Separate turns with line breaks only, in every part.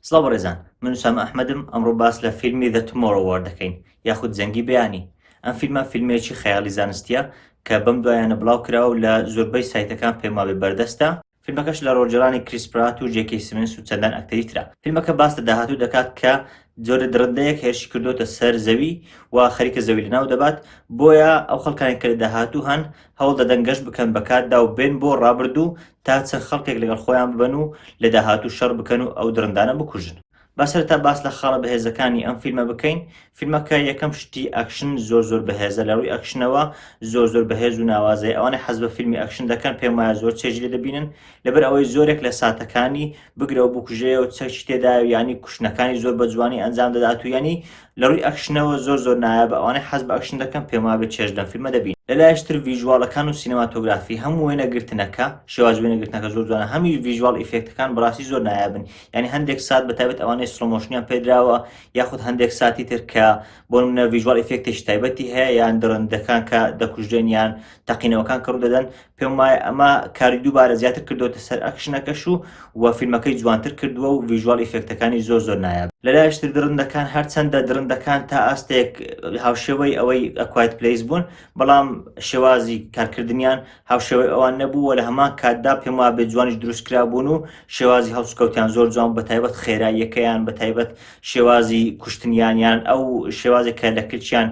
سڵاو بەڕێزان من سامە ئەحمەدم ئەمڕۆ باس لە فیلمی دە تمۆڕەوار دەکەین یاخود زەنگی بەیانی ئەم فیلمە فیلمێکی خەیاڵی زانستیە کە بەم دوایانە بڵاو کراوە لە زۆربەی سایتەکان پێماوێ بەردەستە فیلمەکەش لە ڕۆڵگێڕانی کریس پرات و جێ کەی سیمنس و چەندان ئەکتەری ترە. فیلمەکە باس لە داهاتوو دەکات کە جۆرە دڕندەیەک هێرشی کردووەتە سەر زەوی و خەریکە زەوی لەناو دەبات، بۆیە ئەو خەڵکانەی کە لە داهاتوو هەن هەوڵ دەدەن گەشت بکەن بە کاتدا و بێن بۆ ڕابردوو تا چەند خەڵکێک لەگەڵ خۆیان ببەن و لە داهاتوو شەڕ بکەن و ئەو دڕندانە بکوژن. با سەرەتا باس لە خاڵە بەهێزەکانی ئەم فیلمە بکەین فیلمەکە یەکەم شتی ئەکشن زۆر زۆر بەهێزە لە ڕووی ئەکشنەوە زۆر زۆر بەهێز و ناوازەیە ئەوانەی حەز بە فیلمی ئەکشن دەکەن پێم وایە زۆر چێژی لێ دەبینن لەبەر ئەوەی زۆرێک لە ساتەکانی بگرەوە بکوژەیە و چەکی تێدا و ینی کوشتنەکانی زۆر بە جوانی ئەنجام دەدات و ینی لە ڕووی ئەکشنەوە زۆر زۆر نایابە ئەوانەی حەز بە ئەکشن دەکەن پێم وابێت چێژ لەم فیلمە دەبین لەلایشتر ڤیژواڵەکان و سینەماتۆگرافی هەم وێنەگرتنەکە شێواز وێنەگرتنەکە زۆر جوانە هەمیش ڤیژواڵ ئیفێکتەکان بەڕاستی زۆر نایابن یعنی هەندێک سات بە تایبەت ئەوانەی سڵۆمۆشنیان پێدراوە یاخود هەندێک ساتی تر کە بۆ منە ڤژوال ئفکتێک تایبەتی هەیە یان دڕندەکان کە دەکوژێن یان تەقینەوەکان کڕ دەدەن پێم وایە ئەمە کاری دووبارە زیاتر کردوتە سەر ئەکشنەکەش و و فیلمەکەی جوانتر کردووە و ڤژوال ئفکتەکانی زۆر زۆر نایە لەلایشتر دڕندەکان هەرچەندە دڕندەکان تا ئاستێک هاوشێوەی ئەوەی ئەکوایت پلیس بوون بەڵام شێوازی کارکردنیان هاوشێوەی ئەوان نەبوو و لە هەمان کاتدا پێم وابێ جوانیش دروست کرابوون و شێوازی هەڵسوکەوتیان زۆر جوان بە تایبەت خێراییەکەیان بە تایبەت شێوازی کوشتنیانیان ئەو شێوازێک کە لە کلچیان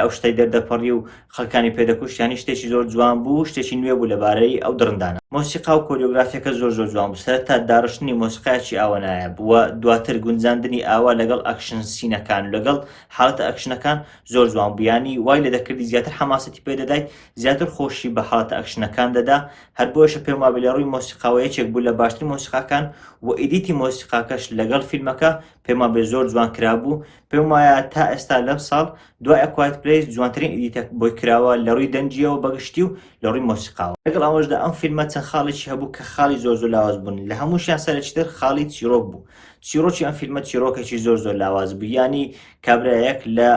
ئەو شتەی دەردەپەڕی و خەکانی پێدەکوشتیانی شتێکی زۆر جوان بوو شتێکی نوێ بوو لەبارەی ئەو دڕندانە مۆسیقا و کۆریۆگرافیەکە زۆر زۆر جوان بوو سەرتا داڕشتنی مۆسیقایکی ئاوەنایە بووە دواتر گونجاندنی ئاوا لەگەڵ ئەکشن سینەکان لەگەڵ حالتە ئەکشنەکان زۆر جوان بوویانی وای لە دەکردی زیاتر حماسەتی پێدەدایت زیاتر خۆشی بە حاڵەتە ئەکشنەکان دەدا، هەر بۆیەشە پێم وابێ لە ڕووی مۆسیقاوە یەکێک بوو لە باشترین مۆسیقاکان و ئیدیتی مۆسیقاکەش لەگەڵ فیلمەکە پێم وابێ زۆر جوان کرابوو، پێم وایە تا ئێستا لەمساڵ دوای A Quiet Place جوانترین ئیدیتە بۆی کراوە لە ڕووی دەنگییەوە بە گشتی و لە ڕووی مۆسیقاوە. لەگەڵ ئەوەشدا ئەم فیلمە چەند خاڵێکی هەبوو کە خاڵی زۆر زۆر لاواز بوون، لە هەمووشیان سەرەکیتر خاڵی چیڕۆک بوو، چیڕۆکی ئەم فیلمە چیڕۆکێکی زۆر زۆر لاواز بوو، یانی کابرایەک لە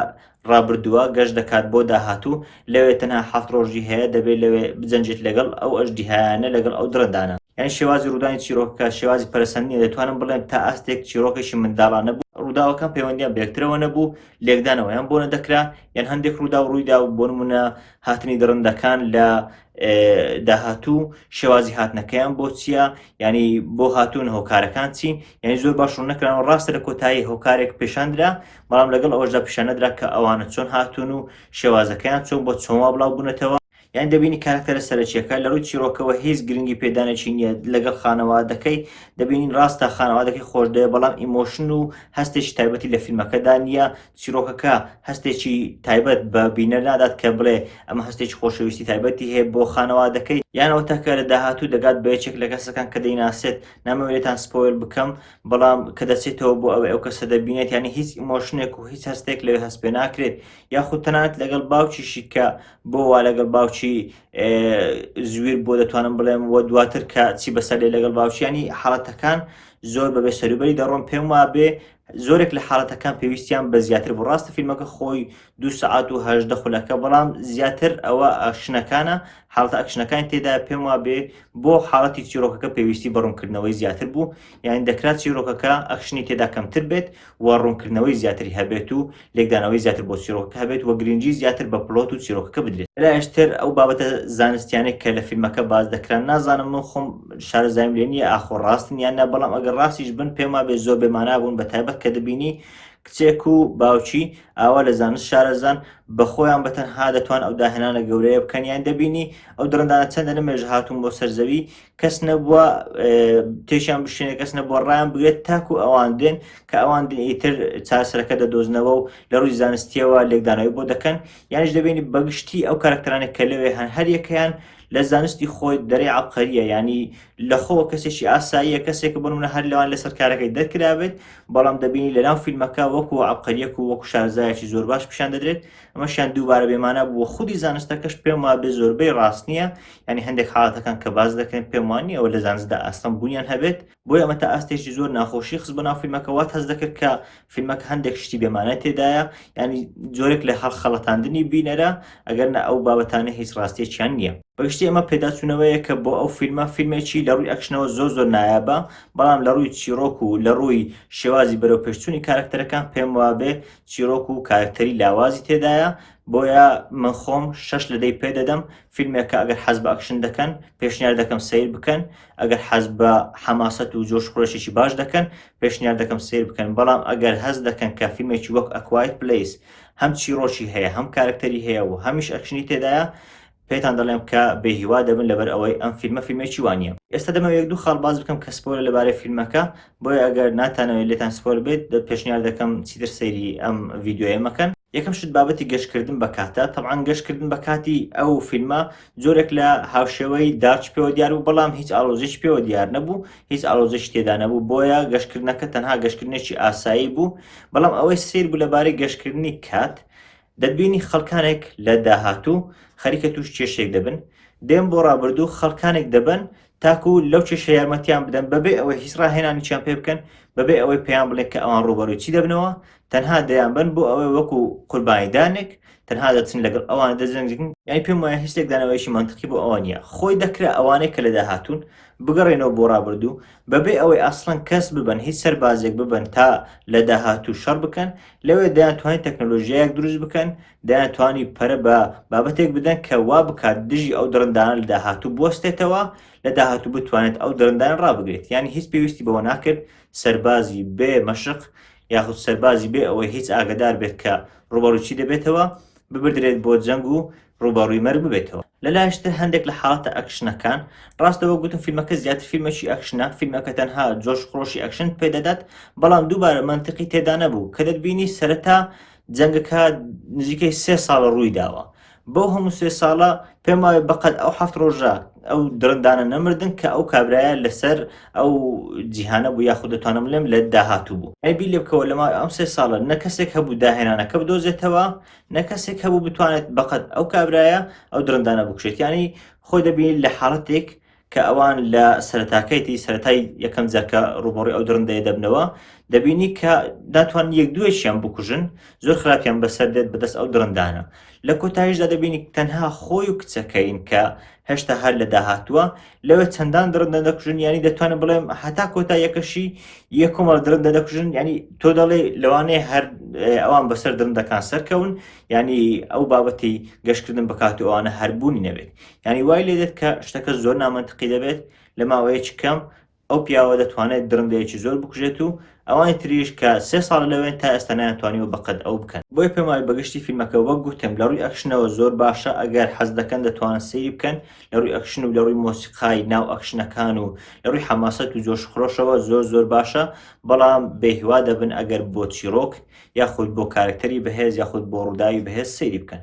ڕابردووە گەشت دەکات بۆ داهاتوو، لەوێ تەنها حەفت ڕۆژی هەیە، دەبێت لەوێ بجەنگێت لەگەڵ ئەو ئەژدیهایانە، لەگەڵ ئەو دڕندانە. یانی شێوازی ڕوودانی چیرۆکەکە شێوازی پەرەسەند نییە، دەتوانم بڵێم تا ئاستێک چیڕۆکێکی منداڵانە بوو، ڕووداوەکان پەیوەندییان بە یەکترەوە نەبوو، لێکدانەوەیان بۆ نەدەکرا، یان هەندێک ڕووداو ڕوویدا و بۆ نموونە هاتنی دڕندەکان لە داهاتوو شێوازی هاتنەکەیان بۆ چییە، یانی بۆ هاتوون، هۆکارەکان چین، یانی زۆر باش ڕوون نەکران و ڕاستە لە کۆتایی هۆکارێک پێشاندرا، بەڵام لەگەڵ ئەوەشدا پیشانەدرا کە ئەوانە چۆن هاتوون و شێوازەکەیان چۆن بۆ چۆنوا بڵاو بوونەتەوە یان دەبینی کارکتەرە سەرەکیەکە لە ڕووی چیرۆکەوە هیچ گرنگی پێدانێکی نییە لەگەڵ خانەوادەکەی دەبینین ڕاستە خانەوادەکەی خۆشدەیە بەڵام ئیمۆشن و هەستێکی تایبەتی لە فیلمەکەدا نییە چیرۆکەکە هەستێکی تایبەت بە بینەر نادات کە بڵێ ئەمە هەستێکی خۆشەویستی تایبەتی هەیە بۆ خانەوادەکەی یانەوە تاکە لە داهاتوو دەگات بە یەکێک لە کەسەکان کە دەیناسێت نامەوێتان سپۆیل بکەم بەڵام کە دەچێتەوە بۆ ئەوەی ئەو کەسە دەبینێت یانی هیچ ئیمۆشنێک و هیچ هەستێک لەوێ هەست پێ ناکرێت یاخود تەنات لەگەڵ باوکیشی کە بۆ وا لەگەڵ باوکی زویر بۆ دەتوانم بڵێم وە دواتر کە چی بەسەرێ لەگەڵ باوکیانی حاڵەتەکان زۆر بەبێ سەروبەری دەڕۆم پێم وابێ زۆرێک لە حاڵەتەکان پێویستیان بە زیاتر بۆ ڕاستە فیلمەکە خۆی دوو سەعات و هەژدە خولەکە بەڵام زیاتر ئەوە ئەکشنەکانە حاڵتە ئەکشنەکانی تێدا پێم وا بێ بۆ حاڵەتی چیرۆکەکە پێویستی بە ڕوونکردنەوەی زیاتر بوو یان دەکرات چیرۆکەکە ئەکشنی تێدا کەمتر بێت و ڕوونکردنەوەی زیاتری هەبێت و لێکدانەوەی زیاتر بۆ چیرۆکە هەبێت و گرنگی زیاتر بە پلۆت و چیرۆکەکە بدرێت لاشتر ئەو بابەتە زانستیانێک کە لە فیلمەکە باز دەکران نازانم من خۆم شارەزایم لێ نییە ئاخۆ ڕاستن یان نە بەڵام ئەگەر ڕاستیش بن پێما بێ زۆر بێمانا بوون بە تایبەت کە دەبینی کچێک و باوکی ئاوا لە زانست شارەزان بە خۆیان بە تەنها دەتوان ئەو داهێنانە گەورەیە بکەن یان دەبینی ئەو دڕندانە چەندە لە مێژە هاتوون بۆ سەرزەوی کەس نەبووە تێشیان بشێنە کەس نەبووە ڕایان بگرێت تاکو ئەوان دێن کە ئەوان ئیتر چاسەرەکە دەدۆزنەوە و لە ڕووی زانستیەوە لێکدانەوەی بۆ دەکەن یانش دەبینی بەگشتی ئەو کارکتەرانی کە لەوێ هەن هەریەکەیان لە زانستی خۆی دەرێ عەبقەریە یعنی لە خۆوە کەسێکی ئاساییە کەسێک بۆ منە هەر لەوان لەسەر کارەکەی دەرکرابێت بەڵام دەبینی لەناو فیلمەکە وەکو عەبقەریەک و وەکو شارزایەکی زۆر باش پیشان دەدرێت ئەمەشیان دووبارە بێمانە بووە خودی زانستەکەش پێم وا بێ زۆربەی ڕاست نییە ینی هەندێک حاڵەتەکان کە باز دەکەن پێم وان نییەوە لە زانستدا ئاستەم بوونیان هەبێت بۆی ئەمە تا ئاستێکی زۆر ناخۆشی خست بۆ ناو فیلمەکە وات هەز دەکرد کە فیلمەکە هەندێک شتی بێمانە تێدایە ینی جۆرێک لە هەڵ خەڵەتاندنی بینەرە ئەگەر نە ئەو بابەتانە هیچ ڕاستێکیان نییە بەگشتی ئەمە پێداچوونەوەیە کە بۆ ئەو فیلمە فیلمێکی لە ڕووی ئەکشنەوە زۆر زۆر نایابە بەڵام لە ڕووی چیرۆک و لە ڕووی شێوازی بەرەو پێشچوونی کارکتەرەکان پێم وابێ چیرۆک و کارکتەری لاوازی تێدایە بۆیە من خۆم شش لە دەی پێ دەدەم فیلمێکە ئەگەر حەز بە ئەکشن دەکەن پێشنیار دەکەم سیر بکەن ئەگەر حەز بە حەماسەت و جۆش خۆشێکی باش دەکەن پێشنیار دەکەم سیر بکەن بەڵام ئەگەر هەز دەکەن کە فیلمێکی وەک ئەکوایت پلیس هەم چیڕۆکی هەیە هەم کارکتەری هەیە و هەمیش ئەکشنی تێدایە پێتان دەڵێم کە بێهیوا دەبن لەبەر ئەوەی ئەم فیلمە فیلمێکی وانە ئێستا دەمە یەک دوو خاڵ باز بکەم کە سپۆرە لەبارەی فیلمەکە بۆیە ئەگەر ناتانەوەی لێتان سپۆر بێت دە پێشنیار دەکەم چیتر سەیری ئەم ڤیددیوە مەکەن یەکەم شت بابەتی گەشتکردن بە کاتە تەعاان گەشتکردن بە کاتی ئەو فیلمە جۆرێک لە هاوشێوەی دارچ پێوە دیار بوو بەڵام هیچ ئالۆزیش پێوە دیار نەبوو هیچ ئالۆزیش تێدا نەبوو بۆیە گەشتکردنەکە تەنها گەشتکردنێکی ئاسایی بوو بەڵام ئەوەی سیر بوو لەبارەی گەشتکردنی کات دەبینی خەڵکانێک لە داهاتوو خەریکە توش کێشێک دەبن دێم بۆ ڕابردوو خەڵکانێک دەبن تاکو لەو کێشە یارمەتیان بدەن بەبێ ئەوەی هیچ ڕاهێنانیان پێ بکەن بەبێ ئەوەی پێیان بڵێ کە ئەوان ڕوبەروی چی دەبنەوە تەنها دەیان بن بۆ ئەوەی وەکو قوربانیدانێک تەنها دەچن لەگەڵ ئەوان دەجەنگن یانی پێم وایە هیچ لێکدانەوەیشی منتقی بۆ ئەوە نیە خۆی دەکرا ئەوانەی کە لەدا هاتوون بگەڕێنەوە بۆ ڕابردوو بەبێ ئەوەی ئاسڵەن کەس ببن هیچ سەربازێک ببن تا لە داهاتوو شەڕ بکەن لەوێ دەیان توانین تەکنەلۆژیایەک دروست بکەن دەیان توانی پەرە بە بابەتێک بدەن کە وا بکات دژی ئەو دڕندانە لە داهاتوو بستێتەوە لە داهاتوو بتوانێت ئەو دڕندان ڕابگرێت یانی هیچ پێویستی بەوە ناکرد سەربازی بێ مەشق یاخود سەربازی بێ ئەوەی هیچ ئاگدار بێت کە ڕوبەڕووچی دەبێتەوە ببدرێت بۆ جەنگ و ڕوبەڕووی مەرگ ببێتەوە لە لاشتر هەندێک لە حاڵەتە ئەکشنەکان ڕاستەوە گوتم فیلمەکە زیاتر فیلمەکی ئەکشنە فیلمەکە تەنها جۆش خۆشی ئەکشن پێدەدات بەڵام دووبارە منتیقی تێدا نەبوو کە دەتبینی سەرەتا جەنگەکە نزیکەی سێ ساڵە ڕووی داوە بەو هەموو سێ ساڵە پێم وایە بەقەت ئەو هەفت ڕۆژە ئەو درندانە نەمردن کە ئەو کابرایە لەسەر ئەو جیهانە بوو یاخود دەتوانم لێم لە داهاتوو بوو ئەبی لێ بکەوە لەما ئەم سێ ساڵە نە کەسێک هەبوو داهێنانەکە بدۆزێتەوە نە کەسێک هەبوو بتوانێت بەقەت ئەو کابرایە ئەو درندانە بکشێت ینی خۆی دەبین لە حاڵەتێک کە ئەوان لە سەرتاکەیتی سەتای یەکەم جارکە ڕوبڕی ئەو درندەیە دەبنەوە دەبینی کە داتوان یەک دوێکیان بکوژن زۆر خراپیان بەسەر دێت بەدەست ئەو درندانە لە کۆتایشدا دەبینی تەنها خۆی و کچەکەین کە هەشتا هەر لە داهاتووە لەوێ چەندان درندە دەکوژن ینی دەتوانن بڵێم هەتا کۆتا یەکەشی یە کۆمەڵ درندە دەکوژن ینی تۆ دەڵێ لەوانەیە هەر ئەوان بەسەر درندەکان سەرکەون ینی ئەو بابەتی گەشتکردن بکات و ئەوانە هەربوونی نەبێت یانی وای لێ دێت کە شتەکە زۆر نامەنتقی دەبێت لە ماوەیەکی کەم ئەو پیاوە دەتوانێت درندەیەکی زۆر بکوژێت و ئەوانی تریش کە سێ ساڵ لەوێن تا ئێستا نەیانتوانیوە بەقەد ئەو بکەن بۆیە پێم وایە بەگشتی فیلمەکە وەک گوتم لە ڕووی ئەکشنەوە زۆر باشە ئەگەر حەز دەکەن دەتوانن سەیری بکەن لە ڕووی ئەکشن و لە ڕووی مۆسیقای ناو ئەکشنەکان و لە ڕووی حەماسەت و جۆش خرۆشەوە زۆر زۆر باشە بەڵام بێهیوا دەبن ئەگەر بۆ چیرۆک یاخود بۆ کارکتەری بەهێز یاخود بۆ ڕووداوی بەهێز سەیری بکەن